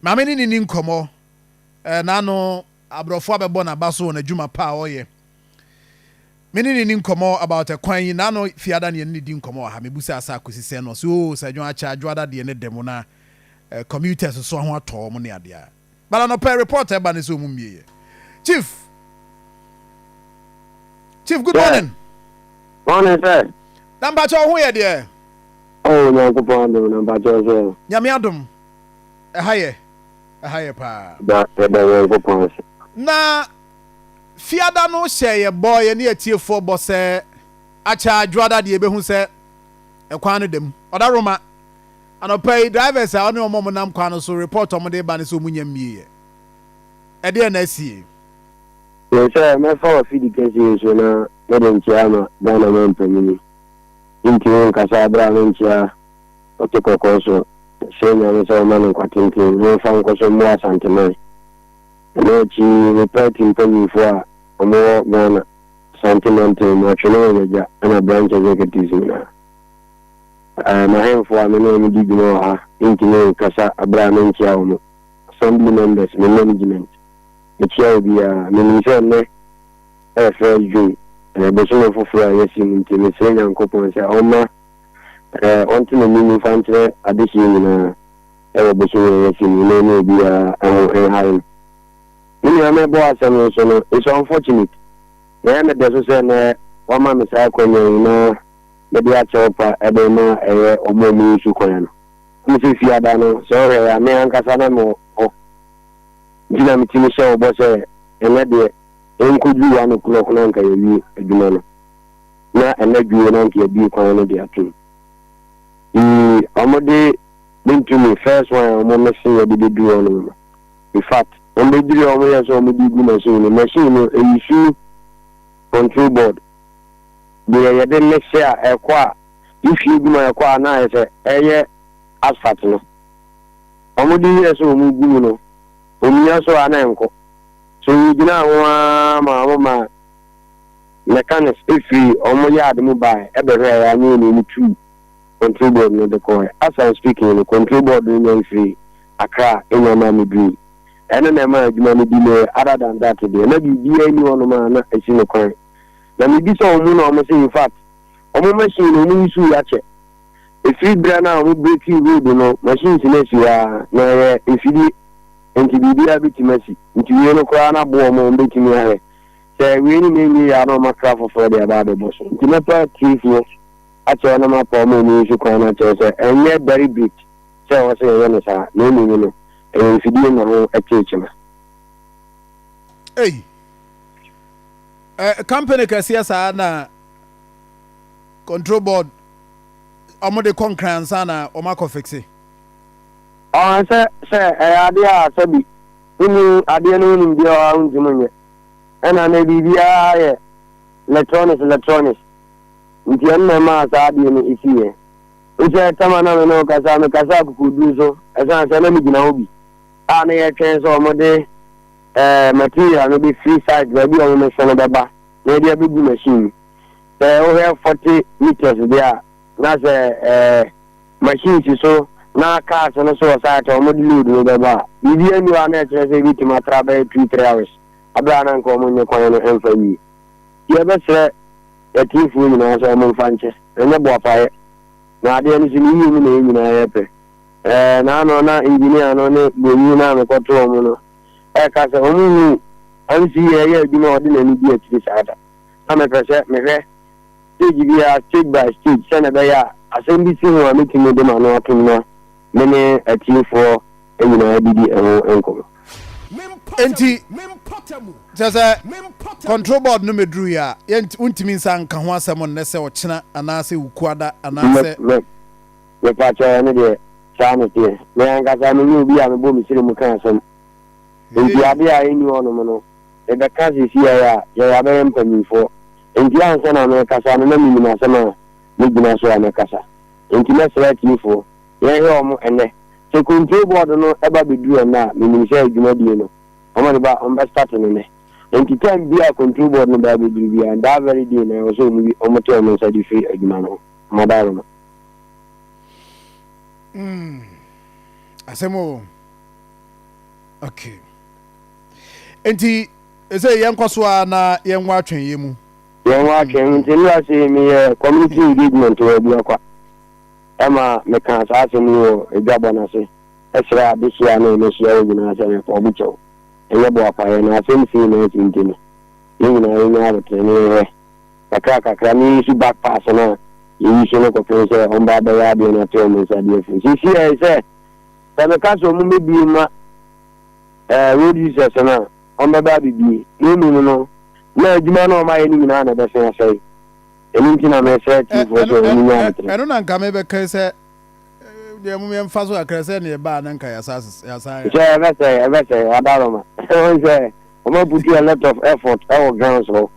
Maame ne no nni nkɔmmɔ. Ɛna ano, aborɔfo abɛbɔ n'aba so wɔ n'adwuma pa a ɔyɛ. Me ne no nni nkɔmmɔ about ɛkwan yi, ɛna ano, Fiada ne yɛne no di nkɔmmɔ wɔ ha. Mebusaa sɛ akosi sɛn na ɔse oh, sɛ dwoa kyɛ a, dwoada deɛ ne dɛ mu na commuters nso ho atɔ wɔn ne adeɛ a. But anɔpa yi report a ɛba ne sɛ wɔn mmieɛ. Chief! Chief, good morning! Morning, sir! Na mpakyɛ wo ho yɛ deɛ? Oh Nyankopɔn adom no mpakyɛ ɔsɛ. Nyame adom ɛha yɛ ɛha yɛ paa. Yɛda yɛda Nyankopɔn ase. Na fiada no hyɛ yɛ bɔ yɛ ne atiefoɔ bɔ sɛ akyɛ adwoada deɛ yɛbɛhu sɛ ɛkwan no da mu ɔda roma anɔpa yi drivers a ɔne ɔmɔ mo nam kwan no so report ɔmo de ba no sɛ ɔmo nya mmie yɛ ɛdeɛ na asie. Mesɛ mɛfa wɔ fidi kɛseɛ nsuo na mɛde nkyea ama Ghana man panyini. Enti wonkasaa bere a ne nkyia ɔte kɔkɔɔ so srɛ Nyame sɛ ɔmma no nkwa tenten na ɔmfa nkɔ so mmoa Asanteman? Ɛno akyi ne party mpanyimfo a wɔwɔ Ghana Asante Mantam mu, Atwene wɔn agya ɛna Branch Executives nyinaa. Eh, m'ahemfo a me ne wɔn di dwuma wɔ ha ntumi nkasa bere a me nkyia wɔn, Assembly Members, me management, mekyia obiara. Menim sɛ nnɛ, Ɛyɛ first June, ɛyɛ bosome foforɔ a yɛasi mu nti mesrɛ Nyankopɔn sɛ ɔmma ɔnte n'anim mfa nkyerɛ adehyeɛ nyinaa ɛwɔ bosome a yɛasi mu yi na ɔne obiara ho nhare no. Me nua me bɔ asɛm no so no it's unfortunate na ɛyɛ me dɛso sɛ nɛ wama me saa akwanya yi na mede akyɛw pa de rema ɛyɛ ɔmo a ɔmo nsu kwan no. Wohu sɛ Fiada no sɛ wohwɛ yɛ a me ankasa na mewɔ hɔ nti na metumi hyɛ wo bɔ sɛ ɛnɛ deɛ Yɛnkɔduru hɔ anɔpa no na anka yɛawie adwuma no, na ɛnɛ dwoe na anka yɛabue kwan no de atom. Yii, wɔde me ntumi, first one a wɔmese yɛde bɛduru hɔ no no. In fact, wɔbɛduru hɔ a wɔyɛɛ sɛ wɔde regu machine no, machine no, ɛyi su control board, deɛ yɛde mese a ɛkɔ a, wohwie gu mu a ɛkɔ a na ayɛ sɛ ɛyɛ asphalt no. Wɔde wiɛɛ sɛ wɔgu mu no, wɔmia so a na ɛnkɔ. So yegyinaa ho ara maa wɔma mechanics firi wɔn yard mu baeɛ bɛhwɛeɛ a nyɛ yɛn ne tuu control board no de kɔeɛ. As I'm speaking no, control board no nyan firii Accra nyan maa me duui. Ɛno na ɛmaa adwuma no delay, other than that deɛ, na biribiara nni hɔnom a na ɛsi no kwan. Na mebisa wɔn na wɔse in fact, wɔn machine no wɔyi so yi akyɛ. Ɛfiri berɛ no a wɔbrekii Hood no, machines no asi hɔ ara, na ɛyɛ mfidie, enti biribiara bɛtumi asi. Nti wei no koraa no aboa wɔn a wɔbɛtumi ayɛ. Sɛ wei nyinaa nwie yɛ a, na wɔakra foforɔ de aba abɛbɔ so. Nti mɛpa atiefoɔ akyɛw na mapa wɔn a wɔyi so kwan no akyɛw sɛ, ɛnyɛ dairy brick sɛ ɛwɔ sɛ yɛyɛ no saa, na mmom no, ɛyɛ mfidie na ho kyere kyema. Ei! Ɛ, company kɛseɛ saa na. control board ɔmo de kɔ nkran ansa na ɔmo akɔ fixe. Ɔn sɛ sɛ ɛyɛ adeɛ a sɛbi wonni adeɛ no ho nimdeɛ a ɔha wontumi nyɛ ɛna nɛ biribiaa yɛ lɛtrɔnis lɛtrɔnis nti ɛno na ɛmaa saa adeɛ no siiɛ wosɛ tam a na me ne wo kasa me kasa akokoduro so ɛsiane sɛ na me gyina hɔ bi a na yɛtwɛn sɛ ɔmo de ɛɛ material no bɛ firi site baabi a ɔmo mɛsɛ no bɛba na yɛde abɛgu machine mu Sɛ wohwɛ forty metres deɛ a, na sɛ ɛɛ machine si so na cars no so wɔ site a wɔde load no bɛba a, biribi anni hɔ a na ɛkyerɛ sɛ ebetumi atra bɛyɛ two three hours abere a na nka wɔn nyɛ kwan no mfa nwie. Nti yɛbɛsrɛ atiefoɔ nyinaa sɛ wɔn mfa nkyɛ, ɛnyɛ boapayɛ. Na adeɛ no so no yie mu na yɛn nyinaa yɛpɛ. Ɛɛ na ano na engineer no ne bronii no a mekɔto wɔn no ɛka sɛ wɔn hu MC yɛ ɛyɛ adwuma a ɔde n'ani di akyiri saa da. na mepɛ sɛ mehwɛ stage biara stage by stage sɛnea ɛbɛyɛ a asɛm bi si ho a metumi de m'ano atom na me ne atiefoɔ nyinaa didi ɛho nkɔmmɔ. Enti kyerɛ sɛ control board no mɛduru yɛ a yɛnt wontumi nsa nka ho asɛm nnɛ sɛ ɔkyena anaasɛ Wukuada anaasɛ. Me mepakyɛw ɛno deɛ saa na ɛteɛ me ankasa menyɛ obi a mebɔ me siri mu ka asɛm nti adeɛ a ɛnni hɔnom no Yɛbɛka seesei ara a, yɛn yɛabɛyɛ mpanyimfoɔ. Enti ansa na merekasa no na menim asɛm a mɛgyina so a mɛkasa. Enti mɛsrɛ atiefoɔ, yɛnhwɛ wɔn ɛnnɛ. Sɛ Kontuo Bɔɔdo no ba bɛduru ɛnnɛ a, menim sɛ dwumadie no, wɔn de ba, wɔbɛstate no nnɛ. Enti time biara a Kontuo Bɔɔdo no ba bɛduru biara, that very day na ɛwɔ sɛ wɔn wi, wɔte wɔn nsa de firi adwuma no ho. Wɔn adaworo no. Umm asɛm oo. Okay. Enti ɛsɛ yɛnkɔ so ara na yɛnwɔ atwɛnyɛ mu. Yɛnwɔ atwɛn mu. Nti nnora sei meyɛ community engagement wɔ Aduakwa. Ɛma mekaa saa asɛm yi wɔ adwabɔ no ase srɛɛ adehyeɛ a na yɛbɛhyia hɔ nyinaa sɛ yɛpɛ ɔbo kyɛw. Ɛnyɛ boapayɛ na asɛm sei na asi nti no, yɛn nyinaa yɛnya aboterɛ na yɛhwɛ. Kakra kakra no yɛsu back pass no a yɛyi so no kɔpem sɛ wɔba abɛyɛ adeɛ na ate wɔn nsa de afiri. Seesei ayɛ sɛ sɛ meka sɛ wɔmmɛbue mma. eh, Lord Jesus no a, ɔmbɛba abebue, na mmom no, na adwuma no a ɔmayɛ no nyinaa na ɛbɛsen asɛe. Ɛno nti na meresrɛ atiefoɔ sɛ wɔn nyaa no tere. Ɛno na nka mebɛka sɛ, deɛ mom yɛmfa so kakra sɛ neɛ ɛbaa na nka yɛasan. Sɛ ɛbɛsɛe, ɛbɛsɛe, adaroma. Wɔn sɛ, wɔn aputu a lot of effort ɛwɔ ground so.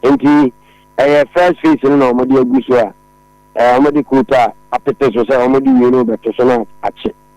Nti, ɛyɛ first phase no na wɔn de agu so a, wɔn de coat a apete so sɛ wɔn de wie no bɛto so na akye.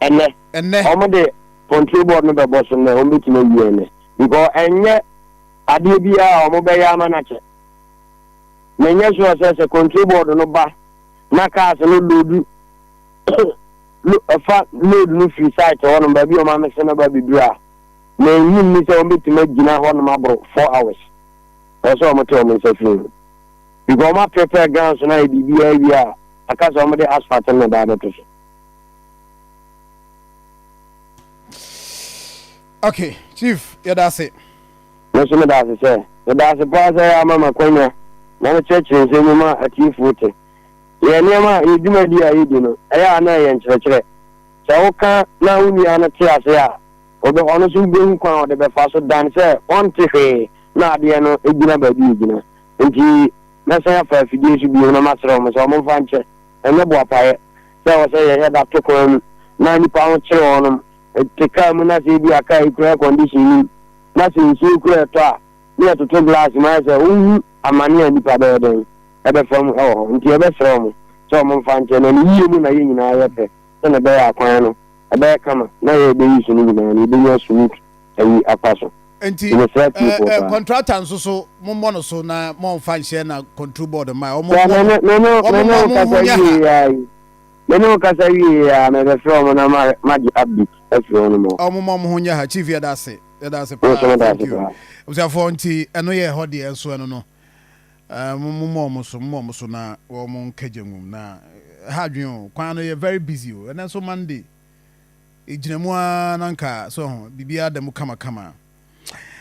ɛnɛ. Ɛnɛ. Wɔn de control board no bɛbɔ so nnɛ, wɔn bɛtumi awie ɛnɛ because ɛnyɛ adeɛ biara a wɔn bɛyɛ ama no akyɛ. Na ɛnyɛ sure sɛ sɛ control board no ba na cars no loadu ɛfa load no firi site hɔ nom baabi a wɔn amese no ba bɛduru a na ɛnyim ni sɛ wɔn bɛtumi agyina hɔ nom aboro four hours. Ɛwɔ sɛ wɔn te wɔn nsa firi ho because wɔn aprepare grounds no ayɛ biribiara wie a aka sɛ wɔn de asphalt no na ɛda abɛto so. okay chief yɛda ase nso meda ase sɛ meda ase paa sɛ yɛ ama makwanya na mekyerɛkyerɛ nsɛm mu ma atiefoɔ te yɛ nneɛma a yɛ dwumadi a yɛdi no ɛyɛ a na ɛyɛ nkyerɛkyerɛ sɛ woka na wo nua no te ase a ɔbɛ ɔno nso wobɛhu kwan a ɔde bɛfa so dan sɛ ɔnte hwee na adeɛ no gyina baabi ɛgyina nti mɛsan afa afidie so bio na maserɛ wɔn sɛ wɔmfa nkyɛ Ɛnyɛ boapayɛ sɛ ɛwɔ sɛ yɛyɛ da to kwan mu na nnipa ho kyere wɔnom te kaa mu na sɛ ebia kaa yi kura air condition nim na sɛ nsuo kura ɛtɔ a ne yɛtoto glass mu ayɛ sɛ wohu amane a nnipa bɛyɛ dɛn ɛbɛfa mu ɛwɔ hɔ nti yɛbɛsrɛ wɔn sɛ wɔn mfa nkyɛ na ne yie mu na yɛn nyinaa yɛ pɛ sɛnea ɛbɛyɛ a kwan no ɛbɛyɛ kama na yɛrebɛyi so no nyinaa no yɛbɛnya sumit ayi afa so. Nti ɛɛ kɔntrata nso so mo mmɔ no so na mo nfa nhyɛ na kɔntro bɔɔd mma wɔn mmɔ no wɔn mmɔ mo ho nyɛ ha. Mene wo kasa wie ya na ɛbɛfrɛ wɔn na magye update afiri wɔn mu. Wɔn mmɔ wɔn ho nyɛ ha chief yɛda ase yɛda ase paa thank you. Abusuafoɔ nti ɛno yɛ ɛhɔ deɛ nso ɛno no mo mmɔ wɔn so mo mmɔ wɔn so na wɔn nkɛgye nwom na ha adwene o kwan no yɛ very busy o ɛnɛ nso Monday. ɛgyina mu ara na anka, so ho, biribiara da mu kamakama.